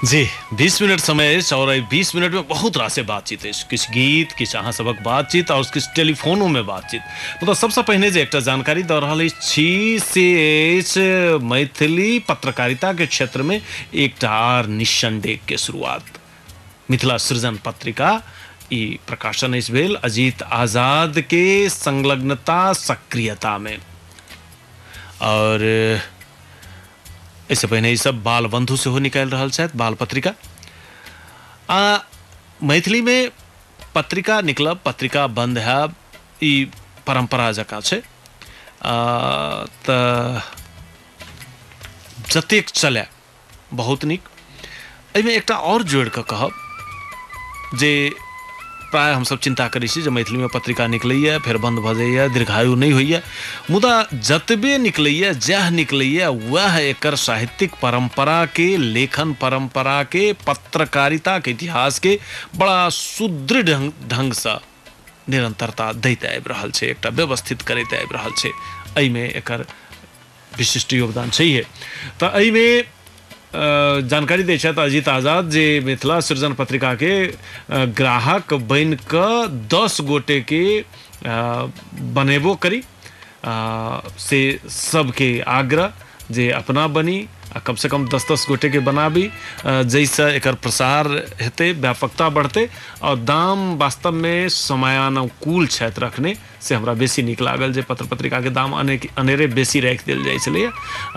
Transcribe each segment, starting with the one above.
जी 20 minute समय अछि और एहि 20 मिनट में बहुत रास से बातचीत अछि किछु गीत किछु अहाँ सबक बातचीत और किछु टेलीफोनो में बातचीत मतलब सबसे पहिने जे एकटा जानकारी दऽ रहल अछि छी से अछि मैथिली पत्रकारिता के क्षेत्र में एकटा आर निशन डेग के शुरुआत मिथिला सृजन पत्रिका ई प्रकाशन अछि भेल अजीत आजाद के संलग्नता सक्रियता में और एहिसँ पहिने ई सब बाल बंधु सेहो निकालि रहल छथि बाल पत्रिका आ मैथिलीमे पत्रिका निकलब पत्रिका बन्द हैब ई परम्परा जकाँ छै आ, तऽ जतेक चलए बहुत नीक एहिमे एकटा आओर जोड़ि कऽ कहब जे प्राय हमसभ चिन्ता करै छी जे मैथिलीमे पत्रिका निकलैए फेर बन्द भऽ जाइए दीर्घायु नहि होइए मुदा जतबे निकलैए जएह निकलैए वएह एकर साहित्यिक परम्पराके लेखन परम्पराके पत्रकारिताके इतिहासके बड़ा सुदृढ़ ढङ्गसँ निरन्तरता दैत आबि रहल छै एकटा व्यवस्थित करैत आबि रहल छै एहिमे एकर विशिष्ट योगदान छैहे तऽ एहिमे अ, जानकारी दै छथि अजीत आजाद जे मिथिला सृजन पत्रिकाके अ, ग्राहक बनि कऽ दस गोटेके अ, बनेबो करी आ, से सबके आग्रह जे अपना बनी आ कमसँ कम दस दस गोटेके बनाबी अ, जाहिसँ एकर प्रसार हेतै व्यापकता बढ़तै आओर दाम वास्तवमे समयानुकूल छथि रखने से हमरा बेसी नीक लागल जे पत्र पत्रिकाके दाम अने अनेरे बेसी राखि देल जाइत छलैए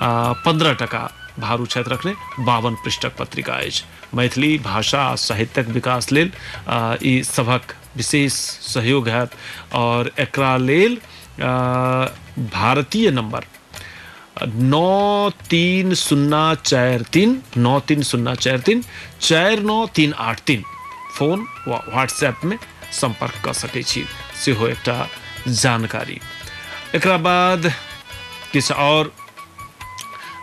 आ पन्द्रह टका भारू छथि रखने बावन पृष्ठक पत्रिका अछि मैथिली भाषा आ साहित्यक विकास लेल आ, ई सभक विशेष सहयोग हैत आओर एकरा लेल आ, भारतीय नंबर नौ तीन शून्ना चार तीन नौ तीन शून्ना चार तीन चार नौ तीन आठ तीन फोन वा व्हाट्सएप में संपर्क कर सकै छी सेहो एकटा जानकारी एकरा बाद किछु आओर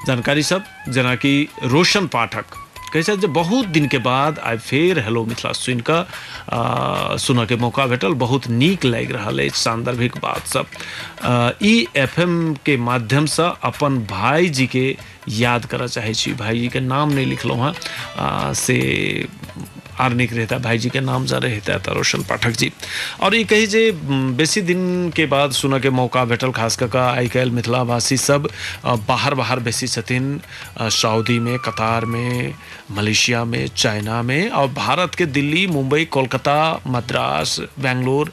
जानकारी सब जेना कि रोशन पाठक कहै छथि जे बहुत दिनके बाद आइ फेर हेलो मिथिला सुनि कऽ आ, सुनऽके मौका भेटल बहुत नीक लागि रहल अछि सान्दर्भिक बातसभ आ, ई एफ के माध्यमसँ अपन भाइजीके याद करऽ चाहै छी भाइजीके नाम नहि लिखलहुँ हँ आ, से आर नीक रहता भाईजी के नाम जारे हेता त रोशन पाठक जी और ई कही जे म, बेसी दिन के बाद सुनऽ के मौका भेटल खास कऽ कऽ आइ काल्हि मिथिला भाषी सब अ, बाहर बाहर बेसी छथिन अ, सऊदी में कतार में मलेशिया में चाइना में और भारत के दिल्ली मुंबई कोलकाता मद्रास बेंगलोर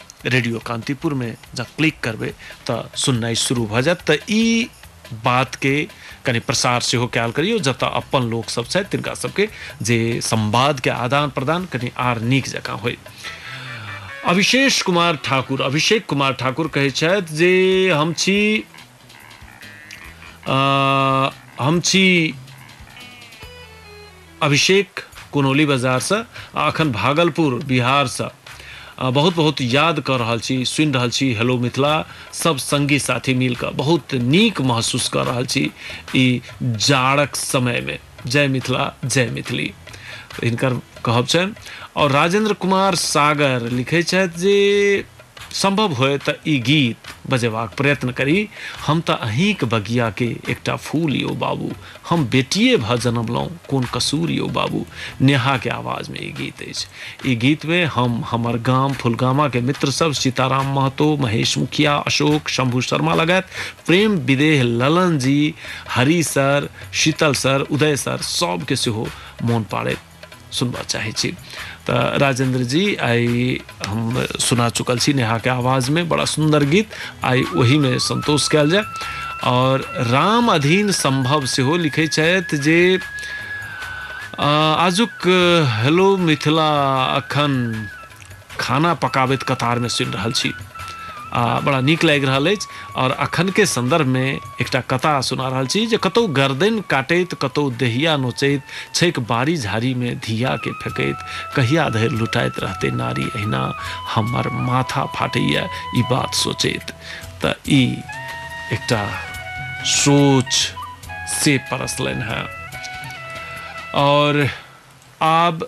रेडियो कांतिपुर में जब क्लिक करबे तो सुननाई शुरू भ जात तो ई बात के कनी प्रसार सेहो कयल करियो जतऽ अपन लोक सब छथि तिनका सबके जे संवाद के आदान प्रदान कनी आर नीक जकाँ होय अभिशेष कुमार ठाकुर अभिषेक कुमार ठाकुर कहै छथि जे हम छी अ, हम छी अभिषेक कुनौली बाजारसँ आ अखन भागलपुर बिहारसँ अ, बहुत बहुत याद कऽ रहल छी सुनि रहल छी हेलो मिथिला सब संगी साथी मिलकऽ बहुत नीक महसूस कऽ रहल छी ई जाड़क समयमे जय मिथिला जय मैथिली हिनकर कहब छनि आओर राजेंद्र कुमार सागर लिखै छथि जे सम्भव होय तऽ ई गीत बजेबाक प्रयत्न करी हम तऽ अहींक बगिया के एकटा फूल यो बाबू हम बेटिए भऽ जनमलहुँ कोन कसूर यो बाबू नेहा के आवाज में ई गीत अछि ई गीत में हम हमर गाम फुलगामा के मित्र सब सीताराम महतो महेश मुखिया अशोक शंभु शर्मा लगायत Prem Videh Lalan ji Hari sir Sheetal sir Uday sir सबके सेहो मोन पाड़ैत सुनबा चाहै छी तऽ राजेंद्र जी आइ हम सुना चुकल छी नेहाके आवाजमे बड़ा सुन्दर गीत आइ ओहिमे संतोष कयल जाय आओर राम अधीन संभव सेहो लिखै छथि जे आ, आजुक हेलो मिथिला अखन खाना पकाबैत कतारमे सुनि रहल छी आ बड़ा नीक लागि रहल अछि आओर अखनके सन्दर्भमे एकटा कथा सुना रहल छी जे कतहु गर्दनि काटैत कतहु देहिया नोचैत छैक बाड़ी झाड़ीमे धियाके फेकैत कहिया धरि लुटाइत रहतै नारी अहिना हमर माथा फाटैए ई बात सोचैत तऽ ई एकटा सोच से परसलनि हेँ आओर आब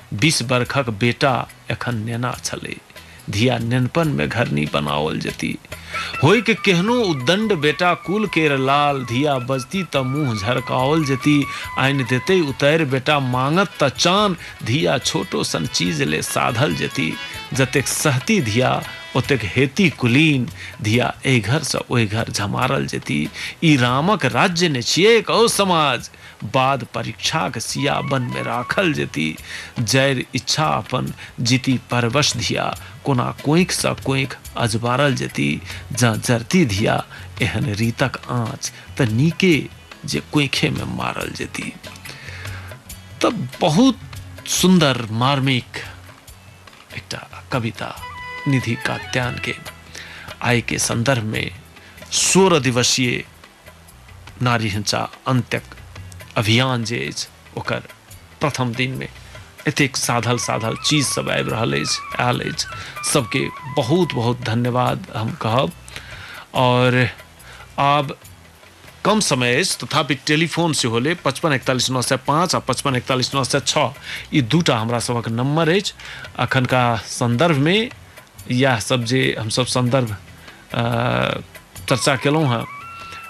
बीस बर्खक बेटा एखन नेना छलै। धिया नेनपन मे घरनी बनाओल जेती। होइक केहनो उद्दण्ड बेटा कुल केर लाल। धिया बजती तँ मुँह झरकाओल जेती। आनि देतै उतैर बेटा माँगत तँ चान। धिया छोटो सन चीज ले साधल जेती। जतेक सहती धिया ओतेक हेती कुलीन। धिया ऐ घर सँ ओइ घर झमारल जेती। ई रामक राज्य ने छियैक औ समाज। बाद परीक्षाक सिया बन मे राखल जेति जैर इच्छा अपन जिति परवश धिया कोना कोंइख सँ कोंइख अजबारल जेति जँ जरति धिया एहन रीतक आँच त नीके जे कोंइखे मे मारल जेति त बहुत सुन्दर मार्मिक एकटा कविता निधि कात्यान के आय के संदर्भ मे सोरह दिवसीय नारी हिंसा अंत्यक अभियान जे अछि ओकर प्रथम दिनमे एतेक साधल साधल चीज सब आबि रहल अछि आयल अछि सबके बहुत बहुत धन्यवाद हम कहब और आब कम समय अछि तथापि टेलीफोन सेहो ले पचपन एकतालीस नओ सए पाँच आ पचपन एकतालीस नओ सए छओ ई दूटा हमरा सभक नम्बर अछि अखनका संदर्भमे इएह सब जे हमसब संदर्भ चर्चा केलहुँ हँ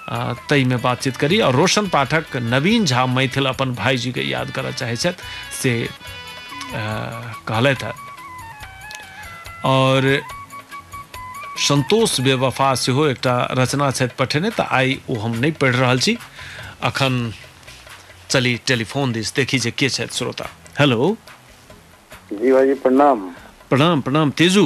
आ, ताहिमे बातचीत करी आओर रोशन पाठक नवीन झा मैथिल अपन भाईजीके याद करय चाहै छथि से आ, कहलथि हँ आओर संतोष बेवफा सेहो एकटा रचना छथि पठेने तऽ आइ ओ हम नहि पढ़ि रहल छी अखन चली टेलीफोन दिस देखी जे के छथि श्रोता हेलो जी भाईजी प्रणाम प्रणाम प्रणाम तेजू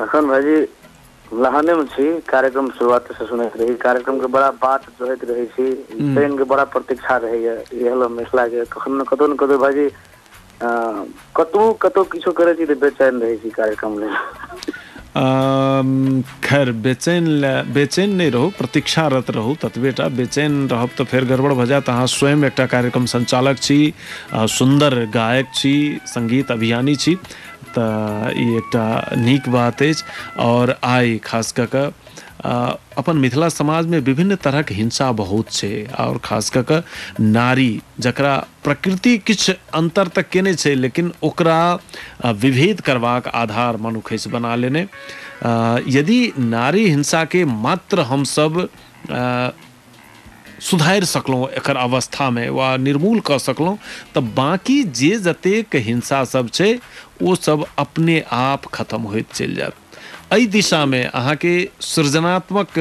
लखन भाईजी लहाने में छी कार्यक्रम शुरुआत से सुनैत रही कार्यक्रम के बड़ा बात जोहैत रहे छी हम्म। ट्रेन के बड़ा प्रतीक्षा रहे ये ये हलो मिथिला के कखन न कतौ न कतौ भाईजी अ, कतौ कतौ किछो करे छी तो बेचैन रहे छी कार्यक्रम ले अम, खैर बेचैन ले- बेचैन नहि रहू प्रतीक्षारत रहू ततबेटा बेचैन रहब तऽ फेर गड़बड़ भऽ जायत अहाँ स्वयं एकटा कार्यक्रम संचालक छी अ, सुन्दर गायक छी संगीत अभियानी छी तऽ ई एकटा नीक बात अछि आओर आइ खास कऽ कऽ आ, अपन मिथिला समाजमे विभिन्न तरहक हिंसा बहुत छै आओर खास कऽ कऽ नारी जकरा प्रकृति किछु अन्तर तऽ केने छै लेकिन ओकरा आ, विभेद करबाक आधार मनुखैस बना लेने आ, यदि नारी हिंसाके मात्र हमसभ आ, सुधारि सकलहुँ एकर अवस्थामे वा निर्मूल कऽ सकलहुँ तऽ बाँकी जे जतेक हिंसा सब छै ओ सब अपने आप खतम होइत चलि जायत एहि दिशामे अहाँके सृजनात्मक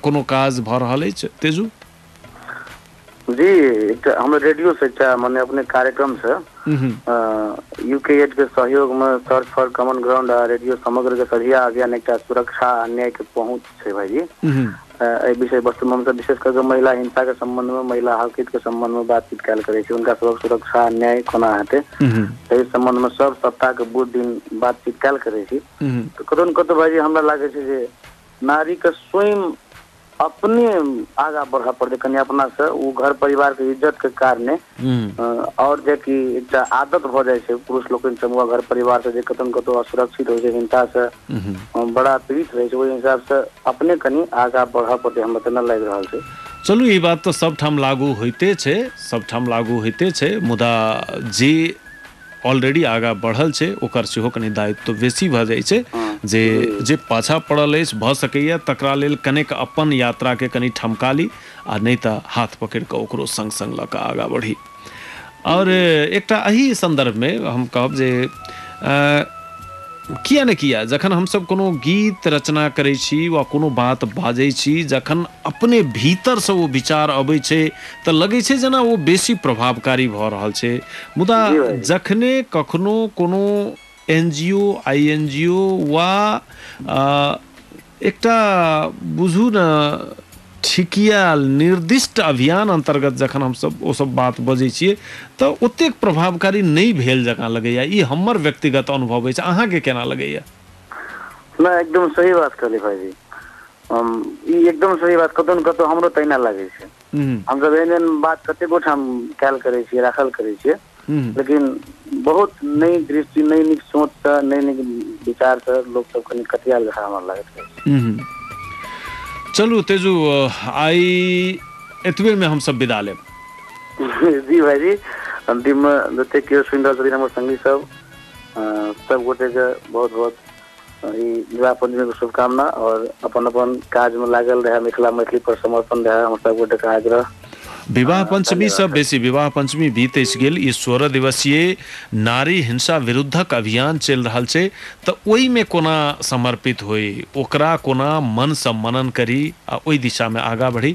कोनो काज भऽ रहल अछि तेजू जी एकटा हम रेडियो से एकटा माने अपने कार्यक्रम से यूके एड के सहयोग में सर्च फॉर कॉमन ग्राउंड आ रेडियो समग्र के सझिया अभियान एकटा सुरक्षा आ न्याय के पहुंच छै भाईजी एहि विषय वस्तु में हमसब विशेष करके महिला हिंसा के संबंध में महिला हकित के संबंध में बातचीत कयल करे छी उनका सबक सुरक्षा न्याय कोना हेतै एहि संबंध में सब सप्ताह के बुध दिन बातचीत कयल करे छी तऽ कतौ ने कतौ भाईजी हमरा लागे छै जे नारी के स्वयं अपने आगा बढ़ऽ पड़तै कनि अपना से ओ घर परिवार के इज्जत के कारणे और जे कि एकटा आदत भऽ जाइ छै पुरुष लोकनि समूह घर परिवार से जे कतौ ने कतौ असुरक्षित होइ छै हिंसा से हँ बड़ा पीड़ित रहै छै ओहि हिसाब से अपने कनि आगा बढ़य पड़तै हमरा तेना लागि रहल छै चलू ई बात तऽ सभठाम लागू होइते छै सभठाम लागू होइते छै मुदा जे ऑलरेडी आगाँ बढ़ल छै ओकर सेहो कनि दायित्व बेसी भऽ जाइ छै जे जे पाछा पड़ल अछि भऽ सकैए तकरा लेल कनेक अपन यात्राके कनि ठमका ली आ नहि तऽ हाथ पकड़ि कऽ ओकरो सङ्ग सङ्ग लऽ कऽ आगाँ बढ़ी आओर एकटा एहि सन्दर्भमे हम कहब जे किया ने किया जखन हमसभ कोनो गीत रचना करै छी वा कोनो बात बाजै छी जखन अपने भीतरसँ ओ विचार अबै छै तऽ लगै छै जेना ओ बेसी प्रभावकारी भऽ रहल छै मुदा जखने कखनो कोनो एनजीओ, आईएनजीओ वा अ, एकटा बुझू ने ठिकियाल निर्दिष्ट अभियान अन्तर्गत जखन हमसभ ओ सब बात बजै छियै तऽ ओतेक प्रभावकारी नहि भेल जकाँ लगैए ई हमर व्यक्तिगत अनुभव अछि अहाँके केना लगैए ना एकदम सही बात कहली भाईजी हम ई एकदम सही बात कतौ ने कतौ हमरो तहिना लागै छै हम्म, हमसभ एहन एहन बात कतेको ठाम कयल करै छियै राखल करै छियै हूँ लेकिन बहुत नहि दृष्टि नहि नीक सोच से नहि नीक विचार से लोक सब कनि कटियाल जकाँ हमरा लागैत रहै छै हूँ हूँ चलू तेजू आइ एतबे मे हमसब विदा लेब जी भाइजी अन्तिम मे जते केओ सुनि रहल छथिन हमर संगी सब अ, सब गोटे के बहुत बहुत विवाह पंचमीके शुभकामना आओर अपन अपन काजमे लागल रहए मिथिला मैथिली पर समर्पण रहए हम सब गोटेके आग्रह विवाह पंचमी से बेसी विवाह पंचमी बीत गेल ई सोलह दिवसीय नारी हिंसा विरुद्धक अभियान चलि रहल छै तऽ ओहिमे कोना समर्पित होइ ओकरा कोना मनसँ मनन करी आ ओहि दिशामे आगाँ बढ़ी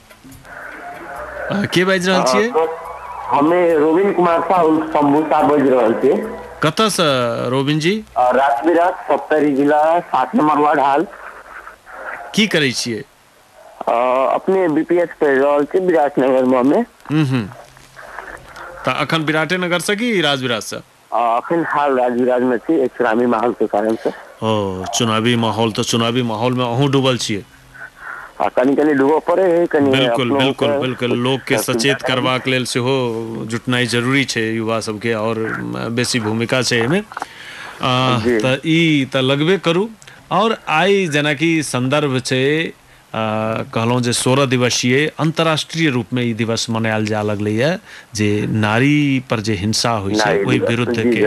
अहाँ के बाजि रहल छियै अहाँ सब- हमे रोबिन कुमार साह उर्फ शंभू साह बाजि रहल छी कतयसँ रोबिन जी आ रात बिरात सप्तरी जिला सात नंबर वार्ड हाल की करै छियै आ, अपने बीपीएस पढ़ि रहल छी विराटनगर में हम्म, हम्म। तऽ अखन विराटेनगरसँ कि राजविराजसँ आ अखनि हाल राजविराज मे छी एहि चुनावी माहौल के कारण से। ओ चुनावी माहौल तऽ चुनावी माहौल मे अहूँ डूबल छियै। आ कनी कनी डूबऽ पड़े है कनि बिल्कुल अपनो के बिल्कुल बिल्कुल लोकके सब सुविधा सचेत चाही। करबाक लेल सेहो जुटनाइ जरूरी छै युवा सबके आओर बेसी भूमिका छै एहिमे। अ जी तऽ ई तऽ लगबे करू। आओर आइ जेनाकि सन्दर्भ छै। कहलहुँ जे सोरह दिवसीय अन्तर्राष्ट्रीय रूपमे ई दिवस मनायल जाय लगलैए जे नारी पर जे हिंसा होइ छै ओहि विरुद्ध के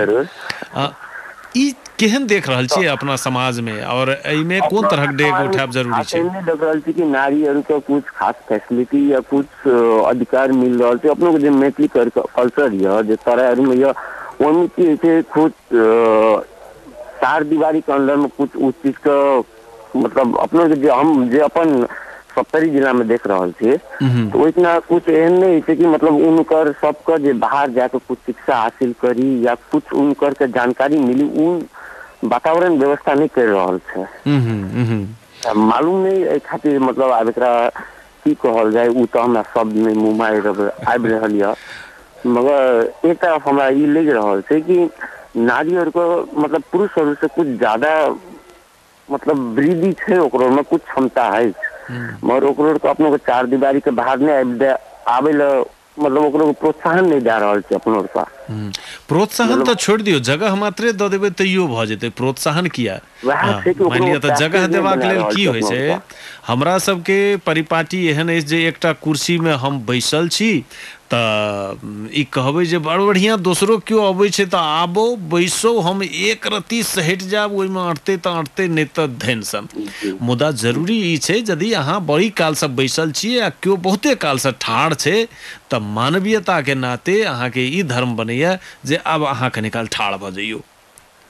ई केहन देख रहल छियै अपना समाजमे आओर एहिमे कोन तरहक डेग उठायब जरूरी छै एहिमे देख रहल छी कि नारीहरूके कुछ खास फैसिलिटी या कुछ अधिकार मिल रहल छै अपनोके जे मैथिली कल्चर यऽ जे सरायमे यऽ ओहिमे की होइ छै कुछ चार दिवारीके अन्दरमे कुछ उस चीजके मतलब अपने के जे हम जे अपन सप्तरी जिला में देख रहल छी हम्म, तऽ ओहिठिना कुछ एहन नहि होइ छै कि मतलब उनकर सबके जे बाहर जाके कुछ शिक्षा हासिल करी या कुछ उनकर के जानकारी मिली उ वातावरण व्यवस्था नहि कर रहल छै हम्म, हम्म, तऽ मालूम नहि एहि खातिर मतलब आब एकरा की कहल जाय ओ तऽ हमरा शब्द नहि मुँह मारि रहल- आबि रहल यऽ मगर एक तरफ हमरा ई लागि रहल छै कि नारी आरके मतलब पुरुष आरसँ कुछ ज्यादा मतलब वृद्धि छै ओकरो मे कुछ क्षमता अछि मगर ओकरो आर के अपनो के चार दिवारी के बाहर नहि आबि दए आबै लए मतलब ओकरो प्रोत्साहन नहि दए रहल छै अपनो आर के हूँ प्रोत्साहन तऽ छोड़ि दियौ जगह मात्रे दऽ देबै तैयो भऽ जेतै प्रोत्साहन किया वएह हँ छै कि मानि ओकरो लिअ तऽ जगह पैकेज नहि देबाक बना लेल रहल की छै होइ अपना छै आरके हमरा सबके परिपाटी एहन अछि जे एकटा कुर्सी मे हम बैसल छी तँ ई कहबै जे बड़ बढ़ियाँ दोसरो क्यो अबै छै तँ आबौ, बैसौ, हम एक रत्ती सहटि जाएब, ओइमे अँटतै तँ अँटतै नै तँ धनि सन। मुदा जरूरी ई छै जदि अहाँ बड़ी कालसँ बैसल छी आ क्यो बहुते कालसँ ठाढ़ छै तँ मानवीयताक नाते अहाँकेँ ई धर्म बनैए जे आब अहाँ कनी काल ठाढ़ भऽ जइयौ।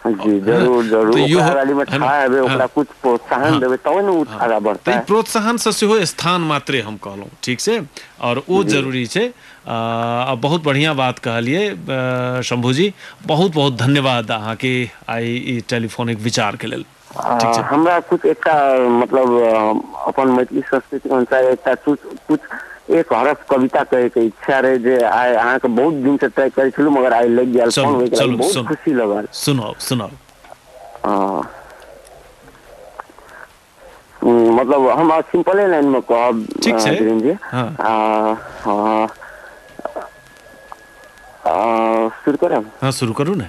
जी है ना जरूर जरूर तऽ इहो ओकरा रैली में है ना ठाढ़ हेबै हँ ओकरा कुछ प्रोत्साहन हँ देबै तबे ने ओ हँ आगाँ तऽ ई बढ़तै प्रोत्साहनसँ सेहो स्थान मात्रे हम कहलहुँ ठीक छै आओर ओ जी जरूरी छै आ बहुत बढ़िआँ बात कहलियै अ, शम्भूजी बहुत बहुत धन्यवाद अहाँके आइ ई टेलीफोनिक विचारके लेल आ ठीक छै हमरा कुछ एकटा मतलब अपन मैथिली संस्कृतिक अनुसार एकटा कुछ कुछ एक हरफ कविता कहै के इच्छा रहै जे आइ अहाँके बहुत दिन से तय करै छलु मगर आइ लागि गेल फोन चलू होय गेल चलू बहुत सुन खुशी लगल सुनाउ सुनाउ हँ हूँ मतलब हम अ सिम्पले लाइन मे कहब ठीक छै धीरेन जी हँ आ हँ आ शुरू करब हँ शुरू करू ने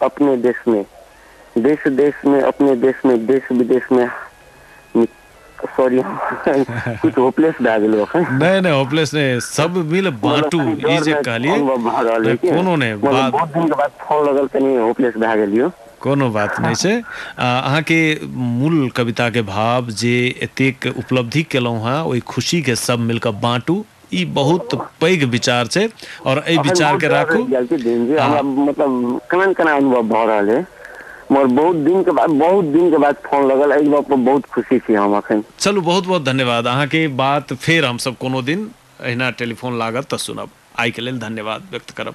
अपने देश में देश देश में अपने देश में देश विदेश में सॉरी कुछ होपलेस भए गेलो अखन नहीं नहीं होपलेस नहीं सब मिल बांटू मतलब कनी ई डर जे में कहलिए अनुभव भऽ रहल अइ कि कोनो नहि मतलब बात बहुत दिन के बाद फोन लगल कनी होपलेस भए गेलियो कोनो बात नहि छै आ, अहाँके मूल कविताके भाव जे एतेक उपलब्धि केलहुँ हेँ ओहि खुशीके सब मिलकऽ बाँटू ई बहुत पैघ विचार छै और एहि अखन विचार बहुत के डर राखू रहि गेल छै दिन जी हमरा हँ मतलब केना ने केना अनुभव भऽ रहल है मगर बहुत दिन के बाद बहुत दिन के बाद फोन लगल एहि गप पर बहुत खुशी छी हम अखन चलू बहुत बहुत धन्यवाद अहाँके बात फेर हमसभ कोनो दिन अहिना टेलीफोन लागत तऽ सुनब आइके लेल धन्यवाद व्यक्त करब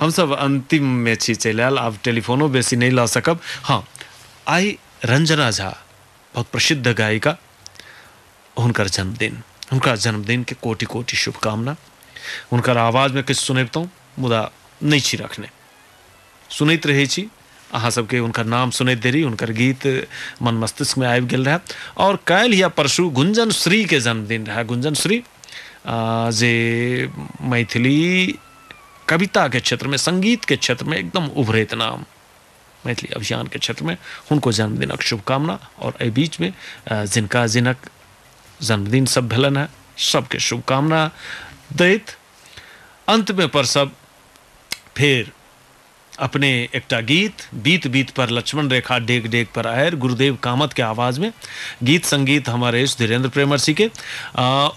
हम सब अंतिम में छी चलि आयल आब टेलीफोनो बेसी नहि लऽ सकब हँ आइ रंजना झा बहुत प्रसिद्ध गायिका हुनकर जन्मदिन हुनका जन्मदिन के कोटि कोटि शुभकामना हुनकर आवाज में किछु सुनबितहुँ मुदा नहि छी रखने सुनैत रहै छी अहाँ सबके हुनकर नाम सुनैत देरी हुनकर गीत मन मस्तिष्क में आबि गेल रहए आओर काल्हि या परसू गुंजन श्री के जन्मदिन रहए गुंजन श्री अ, जे मैथिली कविता के क्षेत्र में संगीत के क्षेत्र में एकदम उभरैत नाम मैथिली अभियान के क्षेत्र में हुनको जन्मदिनक शुभकामना आओर एहि बीच में अ, जिनका जिनक जन्मदिन सब भेलन है सबके शुभकामना दैत अंत में पर सब फेर अपने एकटा गीत, बीत बीत पर लक्ष्मण रेखा डेग डेग पर आयर, गुरुदेव कामत के आवाज में। गीत संगीत हमर अछि धीरेन्द्र प्रेमर्षि के।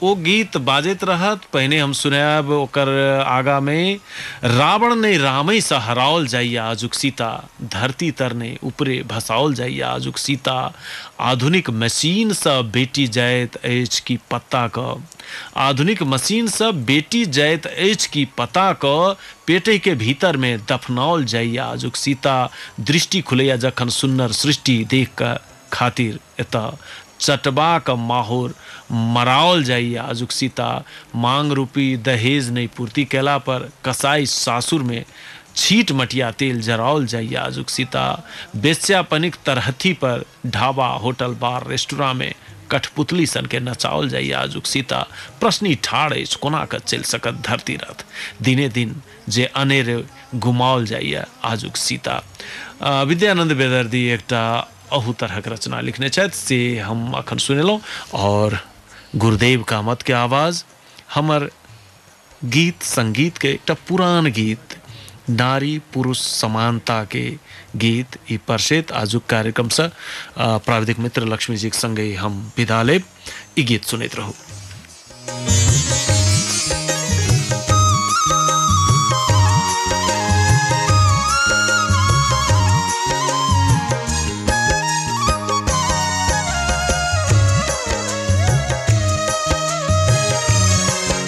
ओ गीत बाजैत रहत, पहिने हम सुनायब ओकर आगा में रावण नै रामै सँ हराओल जाइए आजुक सीता, धरती तर नै उपरे भसाओल जाइए आजुक सीता, आधुनिक मशीन सँ बेटी जाएत अछि कि पत्ता क, आधुनिक मशीन सँ बेटी जाएत अछि कि पता क, पेटहि के भीतर मे दफनाओल जाइए आजुक सीता दृष्टि खुलैए जखन सुन्नर सृष्टि देख कऽ खातिर एतऽ चटबाक माहोर मराओल जाइए आजुक सीता मांग रूपी दहेज नहि पूर्ति कयला पर कसाइ सासुर मे छीट मटिया तेल जराओल जाइए आजुक सीता वेश्यापनिक तरहथी पर ढाबा, होटल, बार, रेस्तुरां मे कठपुतली सन कें नचाओल जाइए आजुक सीता प्रश्नि ठाढ़ अछि कोना कऽ चलि सकत धरती रथ? दिने दिन जे अनेरे गुमाओल जाइए आजुक सीता। विद्यानन्द बेदर्दी एकटा अहू तरहक रचना लिखने छथि से हम अखन सुनेलहुं आओर गुरुदेव कामत के आवाज हमर। गीत संगीत के एकटा पुरान गीत नारी पुरुष समानता के गीत ई परसेत आजुक कार्यक्रम से अ, प्राविधिक मित्र लक्ष्मी जी के संगे हम विदा लेब ई गीत सुनैत रहू